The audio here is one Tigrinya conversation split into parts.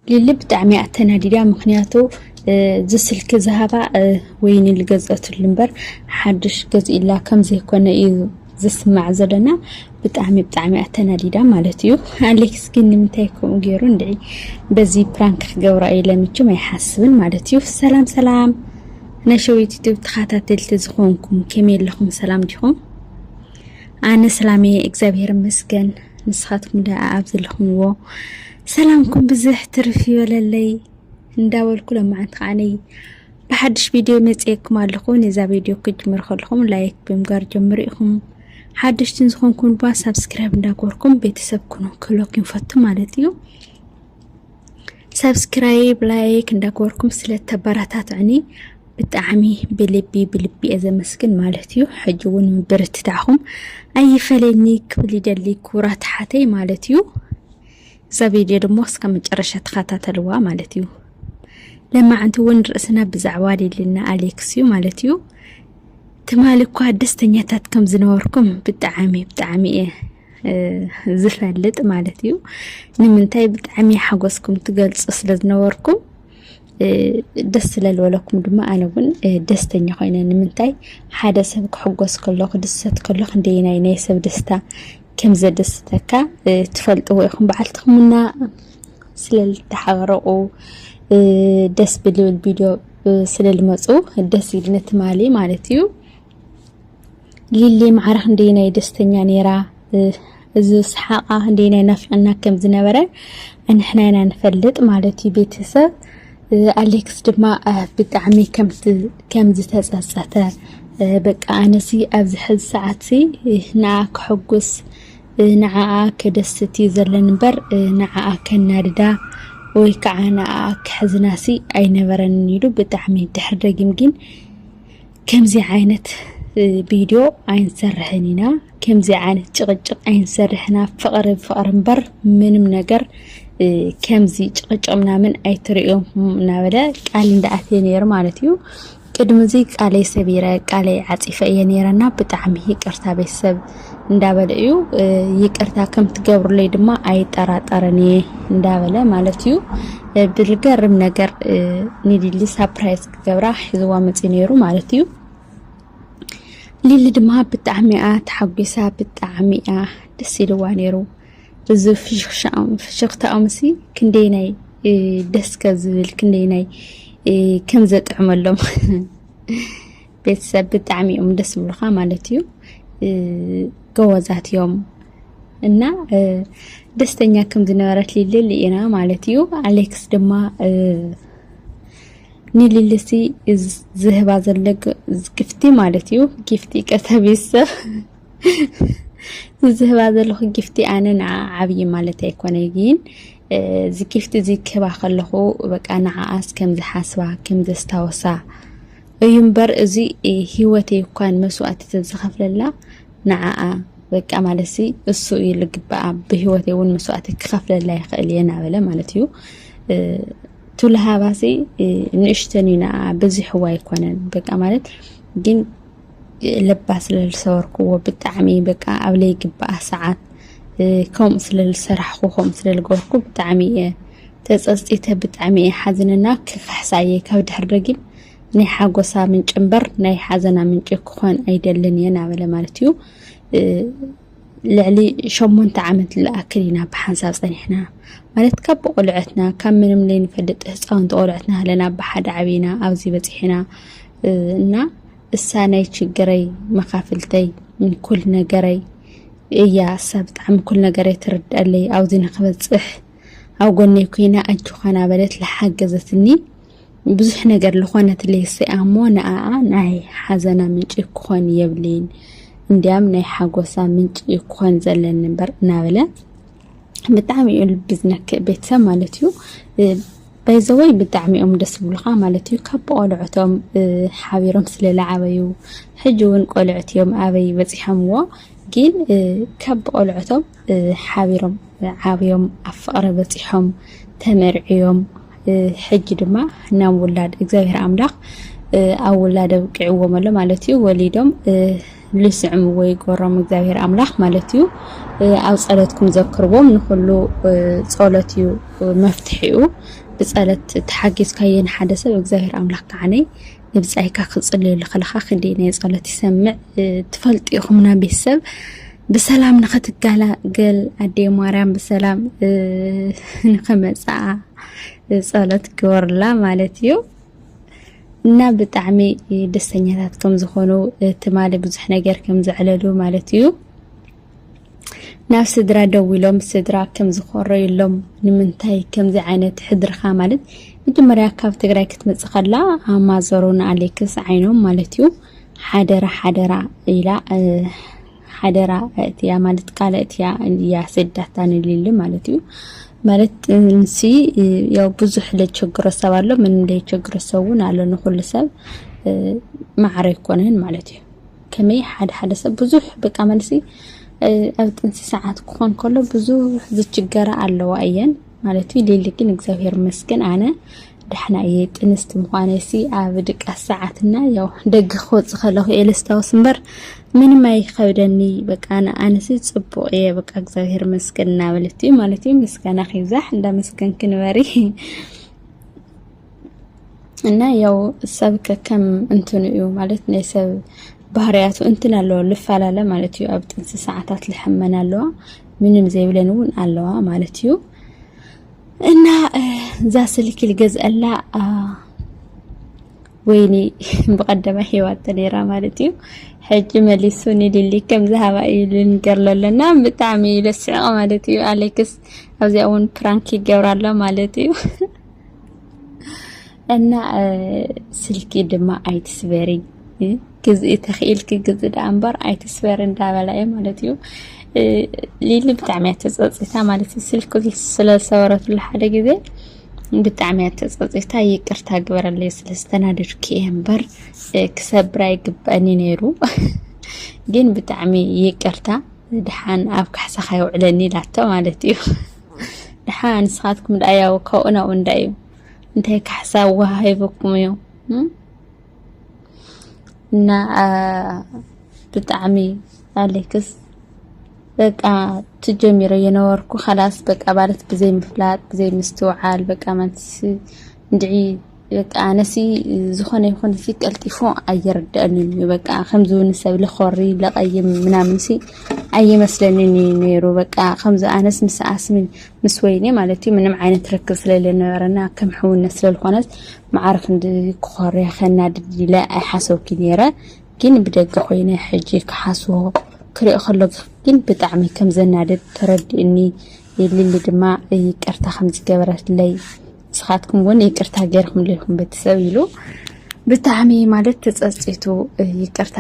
ሊሊ ብጣዕሚ እያ ተናዲዳ ምክንያቱ እዚ ስልኪ ዝሃባ ወይኒ ዝገዝአትሉ እምበር ሓድሽ ገዝኢላ ከም ዘይኮነ እዩ ዝስማዕ ዘለና ብጣዕሚ ብጣዕሚ እያ ተናዲዳ ማለት እዩ ኣሌክስ ግን ንምንታይ ከምኡ ገይሩ እንድዒ በዚ ፕራንክ ክገብራ እዩ ለምችም ኣይሓስብን ማለት እዩ ሰላም ሰላም ናይ ሸዊት ዩቱብ ተኸታተልቲ ዝኾንኩም ከመይ ኣለኹም ሰላም ዲኹም ኣነ ሰላም እየ እግዚኣብሔር ይመስገን ንስኻትኩም ደኣ ኣብ ዘለኹምዎ ሰላምኩም ብዝሕ ትርፍ ይበለለይ እንዳበልኩ ለማዓንቲ ከዓነይ ብሓድሽ ቪድዮ መፅየኩም ኣለኹ ነዛ ቪድዮ ክጅምር ከለኹም ላይክ ብምጋር ጀምሩ ኢኹም ሓደሽትን ዝኾንኩም ድማ ሳብስክራይብ እንዳገበርኩም ቤተሰብ ኩኑ ክህለኩ ይንፈቱ ማለት እዩ ሳብስክራይብ ላይክ እንዳገበርኩም ስለተበረታትዕኒ ብጣዕሚ ብልቢ ብልቢ እየ ዘመስግን ማለት እዩ ሕጂ እውን ምብርትታዕኹም ኣይፈለኒ ክብል ይደሊ ክቡራት ሓተይ ማለት እዩ እዛ ቪድዮ ድማ እስከ መጨረሻ ተኸታተልዋ ማለት እዩ ለማዕንቲ እውን ርእስና ብዛዕባ ሊልና ኣሌክስ እዩ ማለት እዩ ትማሊ እኳ ደስተኛታት ከም ዝነበርኩም ብጣዕሚ ብጣዕሚ እየ ዝፈልጥ ማለት እዩ ንምንታይ ብጣዕሚ ሓጎስኩም ትገልፁ ስለ ዝነበርኩም ደስ ስለዝበለኩም ድማ ኣነ እውን ደስተኛ ኮይነ ንምንታይ ሓደ ሰብ ክሕጎስ ከሎ ክድሰት ከሎ ክንደየናይ ናይ ሰብ ደስታ ከም ዘደሰተካ ትፈልጥዎ ኢኹም በዓልትኹምና ስለ ዝተሓበረቑ ደስ ብልብል ቪድዮ ስለ ልመፁ ደስ ኢልኒ ትማሊ ማለት እዩ ሊሊ ማዕረኽ እንደይ ናይ ደስተኛ ነይራ እዚ ሰሓቓ እንደይ ናይ ናፍቅና ከም ዝነበረ ንሕና ኢና ንፈልጥ ማለት እዩ ቤተሰብ ኣሌክስ ድማ ብጣዕሚ ከም ዝተጸጸተ በቃ ኣነሲ ኣብዚ ሕዚ ሰዓትሲ ንዓ ከሕጉስ ንዓኣ ከደስት እዩ ዘለኒ እምበር ንዓኣ ከናድዳ ወይ ከዓ ንኣ ክሕዝናሲ ኣይነበረንን ኢሉ ብጣዕሚ ድሕሪ ደጊም ግን ከምዚ ዓይነት ቪድዮ ኣይንሰርሕን ኢና፣ ከምዚ ዓይነት ጭቕጭቕ ኣይንሰርሕን፣ ኣብ ፍቕሪ ፍቕሪ እምበር ምንም ነገር ከምዚ ጭቕጭቕ ምናምን ኣይትርእዮም እናበለ ቃል እንዳኣትየ ነይሩ ማለት እዩ። ቅድሚ እዚ ቃለይ ሰቢረ ቃለይ ዓፂፈ እየ ነይረና ብጣዕሚ ይቅርታ ቤተሰብ እንዳበለ እዩ። ይቅርታ ከምትገብሩለይ ድማ ኣይጠራጠርን እየ እንዳበለ ማለት እዩ። ብልገርም ነገር ንሊሊ ሳፕራይዝ ገብራ ሒዝዋ መጺኡ ነይሩ ማለት እዩ ሊሊ ድማ ብጣዕሚ እያ ተሓጒሳ ብጣዕሚ እያ ደስ ኢልዋ ነይሩ እዚ ፍሽኽታኦምሲ ክንደይ ናይ ደስከ ዝብል ክንደይ ናይ ከም ዘጥዕመሎም ቤተሰብ ብጣዕሚ እዮም ደስ ብሉካ ማለት እዩ። ጎበዛት እዮም እና ደስተኛ ከም ዝነበረት ሊልል ኢና ማለት እዩ። ኣሌክስ ድማ ንሊልሲ ዝህባ ዘሎ ግፍቲ ማለት እዩ ጊፍቲ ቀተቢሰ ዝህባ ዘለኹ ጊፍቲ ኣነ ንዓ ዓብዪ ማለት ኣይኮነ ግን እዚ ጊፍቲ እዚ ክህባ ከለኹ በቃ ንዓኣስ ከም ዝሓስባ ከም ዘስታወሳ እዩ እምበር እዚ ሂወተይ እኳን መስዋእቲ ተዝኸፍለላ ንዓኣ በቃ ማለት ሲ እሱ እዩ ልግበኣ ብሂወተይ እውን መስዋእቲ ክኸፍለላ ይኽእል እየ ናበለ ማለት እዩ ቱልሃባሲ ንእሽተን እዩ ንኣ ብዚሕዎ ኣይኮነን በቃ ማለት ግን ለባ ስለ ዝሰበርክዎ ብጣዕሚ በቃ ኣብ ለይግባኣ ሰዓት ከምኡ ስለ ዝሰራሕኩ ከምኡ ስለ ዝገበርኩ ብጣዕሚ እየ ተጸጽቲተ ብጣዕሚ እየ ሓዝንና ክክሕሳ እየ ካብ ድሕር ደጊም ናይ ሓጎሳ ምንጭ እምበር ናይ ሓዘና ምንጭ ክኾን ኣይደልን እየ ናበለ ማለት እዩ ልዕሊ ሸሞንተ ዓመት ዝኣክል ኢና ብሓንሳብ ጸኒሕና ማለት ካብ ብቆልዐትና ካብ ምንም ዘይንፈልጥ ህፃውንቲ ቆልዐትና ኣለና ብሓደ ዓብና ኣብዚ በፂሕና እና እሳ ናይ ችግረይ መካፍልተይ ኩል ነገረይ እያ እሳ ብጣዕሚ ኩል ነገረይ ትርድኣለይ ኣብዚ ንክበፅሕ ኣብ ጎነይ ኮይና ኣጆኻና በለት ዝሓገዘትኒ ብዙሕ ነገር ልኾነት ሌሰኣ እሞ ንኣኣ ናይ ሓዘና ምንጪ ክኾን የብልይን እንዲያም ናይ ሓጎሳ ምንጪ እዩ ክኾን ዘለኒ እምበር እናበለ ብጣዕሚ እዩ ልቢ ዝነክእ ቤተሰብ ማለት እዩ ባይዘወይ ብጣዕሚ እዮም ደስ ዝብሉኻ ማለት እዩ ካብ ቆልዑቶም ሓቢሮም ስለ ዝዓበዩ ሕጂ እውን ቆልዑት እዮም ኣበይ በፂሖምዎ ግን ካብ ቆልዑቶም ሓቢሮም ዓብዮም ኣብ ፍቕሪ በፂሖም ተመርዕዮም ሕጂ ድማ ናም ውላድ እግዚኣብሔር ኣምላኽ ኣብ ውላድ ኣብቂዕዎ መሎ ማለት እዩ ወሊዶም ልስዕምዎ ይጎሮም እግዚኣብሔር ኣምላኽ ማለት እዩ ኣብ ጸሎትኩም ዘክርዎም ንኩሉ ጸሎት እዩ መፍትሒኡ ብጸሎት ተሓጊዝካዮ ንሓደ ሰብ እግዚኣብሔር ኣምላኽ ከዓነይ ንብጻይካ ክጽልየሉ ከለኻ ክንደይ ናይ ጸሎት ይሰምዕ ትፈልጡ ኢኹምና ቤተሰብ ብሰላም ንክትገላገል ኣዴ ማርያም ብሰላም ንክመፅኣ ፀሎት ግበርላ ማለት እዩ እና ብጣዕሚ ደስተኛታት ከም ዝኾኑ ትማሊ ብዙሕ ነገር ከም ዘዕለሉ ማለት እዩ ናብ ስድራ ደው ኢሎም ስድራ ከም ዝኾረዩሎም ንምንታይ ከምዚ ዓይነት ሕድርኻ ማለት መጀመርያ ካብ ትግራይ ክትመፅእ ከላ ኣማዘሩን ኣሌክስ ዓይኖም ማለት እዩ ሓደራ ሓደራ ኢላ ሓደራ እትያ ማለት ቃለ እትያ እያ ሰዳታ ንልል ማለት እዩ ማለት እንሲ ያው ብዙሕ ለቸግሮ ሰብ ኣሎ ምን ለቸግሮ ሰብ እውን ኣሎ ንኩሉ ሰብ ማዕረ ይኮነን ማለት እዩ ከመይ ሓደ ሓደ ሰብ ብዙሕ በቃ መልሲ ኣብ ጥንሲ ሰዓት ክኾን ከሎ ብዙሕ ዝችገራ ኣለዋ እየን ማለት እዩ ሊሊ ግን እግዚኣብሔር መስገን ኣነ ዳሕና እየ ጥንስቲ ምዃነይሲ ኣብ ድቃስ ሰዓት እና ያው ደገ ክወጽእ ከለኹ እየ ለስታውስ እምበር ምንም ኣይከብደኒ በቃ ንኣነሲ ጽቡቕ እየ በቃ እግዚኣብሔር መስገን እናበለት እዩ ማለት እዩ። ምስጋና ክይብዛሕ እንዳመስገንኪ ንበሪ እና ያው ሰብ ከከም እንትኑ እዩ ማለት ናይ ሰብ ባህርያቱ እንትን ኣለዎ ልፈላለ ማለት እዩ። ኣብ ጥንሲ ሰዓታት ልሕመን ኣለዋ ምንም ዘይብለን እውን ኣለዋ ማለት እዩ። እና እዛ ስልኪ ልገዝአላ ወይኒ ብቀደመ ሂወት ተነይራ ማለት እዩ ሕጂ መሊሱ ንሊሊ ከም ዝሃባ እዩ ልንገር ለሎና ብጣዕሚ እዩ ለስዕቕ ማለት እዩ ኣሌክስ ኣብዚኣ እውን ፕራንክ ይገብራ ኣሎ ማለት እዩ እና ስልኪ ድማ ኣይትስበሪ ግዝኢ ተኽኢልኪ ግዝኢ ደኣ እምበር ኣይትስበሪ እንዳበላ እዩ ማለት እዩ። ሊሊ ብጣዕሚ እያ ተፀፂታ ማለት እዩ። ስልኪ ስለ ዝሰበረትሉ ሓደ ግዜ ብጣዕሚ እያ ተፀፂታ። ይቅርታ ግበረለይ ስለ ዝተናደድኩ እየ እምበር ክሰብር ኣይግባእን እዩ ነይሩ። ግን ብጣዕሚ ይቅርታ ድሓን ኣብ ካሕሳኻ የውዕለኒ ኢላቶ ማለት እዩ። ድሓን ንስኻትኩም ደኣ ያው ካብኡ ናብኡ እንዳ እዩ እንታይ ካሕሳ ወሃሂብኩም እዩ እና ብጣዕሚ ኣሌክስ በቃ ትጀሚሮ የነበርኩ ከላስ በቃ ማለት ብዘይ ምፍላጥ ብዘይ ምስትውዓል በቃ ማንትስ እንድዒ በቃ ኣነሲ ዝኾነ ይኹን ሲ ቀልጢፉ ኣይርድአንን እዩ በቃ ከምዚ እውን ሰብ ልኾሪ ለቐይም ምናምን ሲ ኣይመስለንን እዩ ነይሩ በቃ ከምዚ ኣነስ ምስ ኣስሚን ምስ ወይኔ ማለት እዩ ምንም ዓይነት ርክብ ስለለነበረና ከም ሕውነት ስለልኾነት መዓር ክንዲ ክኾርያ ከናድድ ኢለ ኣይሓሰብኩይ ነይረ ግን ብደገ ኮይነ ሕጂ ክሓስቦ ክሪኦ ከለኩ ግን ብጣዕሚ ከም ዘናድድ ተረዲኡኒ ሊሊ ድማ ይቅርታ ከም ዝገበረትለይ ንስኻትኩም እውን ይቅርታ ገይርኩምለይ ኢኹም ቤተሰብ ኢሉ ብጣዕሚ ማለት ተፀፂቱ ይቅርታ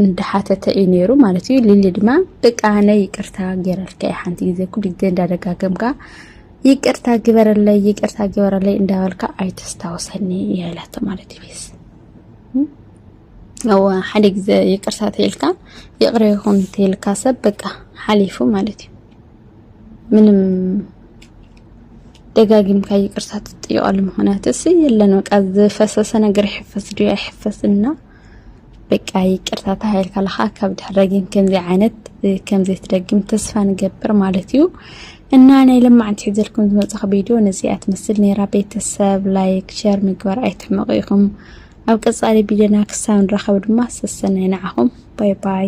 እንዳሓተተ እዩ ነይሩ ማለት እዩ። ሊሊ ድማ በቃ ናይ ይቅርታ ገይረልካ ሓንቲ ግዜ ኩሉ ግዜ እንዳደጋገምካ ይቅርታ ግበረለይ ይቅርታ ግበረለይ እንዳበልካ ኣይተስታውሰኒ እያ ኢላቶ ማለት እዩ ቤዝ እወ ሓደ ግዜ ይቅርታ ተይልካ ይቅረ ይኹን ተይልካ ሰብ በቃ ሓሊፉ ማለት እዩ ምንም ደጋጊምካ ይቅርታ ትጥይቀሉ ምክንያት እስ የለን በቃ ዝፈሰሰ ነገር ይሕፈስ ድዩ ኣይሕፈስ እና በቃ ይቅርታ ተባሂልካ ኣለካ ካብ ድሕር ደጊም ከምዚ ዓይነት ከምዘይትደግም ተስፋ ንገብር ማለት እዩ እና ናይ ለማዕንቲ ሒዘልኩም ዝመፅኹ ቪድዮ ነዚኣ ትመስል ነራ ቤተሰብ ላይክ ሸር ምግባር ኣይትሕመቑ ኢኹም ኣብ ቀፃሊ ቪድዮና ክሳብ ንራኸብ ድማ ሰሰናይ ንዓኹም ባይ ባይ